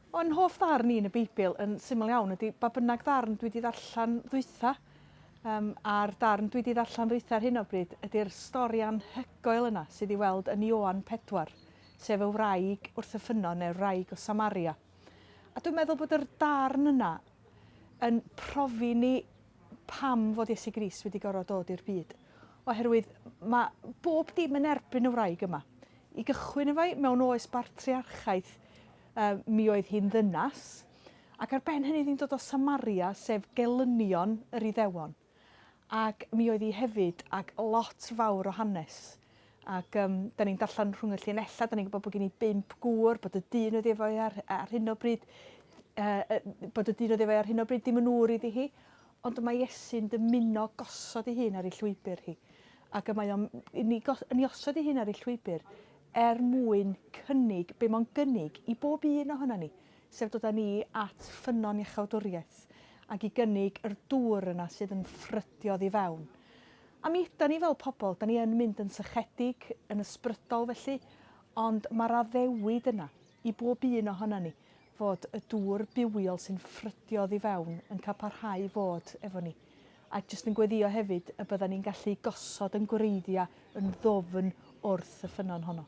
O'n hoff ddarn i yn y Beibl yn syml iawn ydy ba bynnag ddarn dwi wedi ddarllen ddwytha, um, a'r darn dwi wedi ddarllen ddwytha ar hyn o bryd ydy'r stori anhygoel yna sydd ei weld yn Ioan 4, sef y wraig wrth y ffynnon neu'r wraig o Samaria. A dwi'n meddwl bod yr darn yna yn profi ni pam fod Iesu Grist wedi gorfod dod i'r byd, oherwydd mae bob dim yn erbyn y wraig yma. I gychwyn efo i, mewn oes bartriarchaeth, uh, mi oedd hi'n ddynas, ac ar ben hynny ddim dod o Samaria, sef gelynion yr Iddewon. Ac mi oedd hi hefyd, ac lot fawr o hanes. Ac um, da ni'n darllen rhwng y llinellau, da ni'n gwybod bod gen i bimp gŵr, bod y dyn oedd efo i ar, ar hyn o bryd, uh, bod y dyn oedd efo i ar hyn o bryd ddim yn ŵr iddi hi, ond mae Iesu'n dymuno gosod ei hun ar ei llwybr hi. Ac mae o'n ni, ni osod ei hun ar ei llwybr er mwyn cynnig, be mae'n gynnig i bob un ohono ni, sef dod â ni at ffynnon iachawdwriaeth ac i gynnig yr dŵr yna sydd yn ffrydio ddi fewn. A mi ydan ni fel pobl, 'dan ni yn mynd yn sychedig, yn ysbrydol felly, ond mae'r addewid yna i bob un ohonan ni fod y dŵr bywiol sy'n ffrydio oddi fewn yn cael parhau i fod efo ni. A jyst yn gweddïo hefyd y byddan ni'n gallu gosod yn gwreiddiau yn ddwfn wrth y ffynnon honno.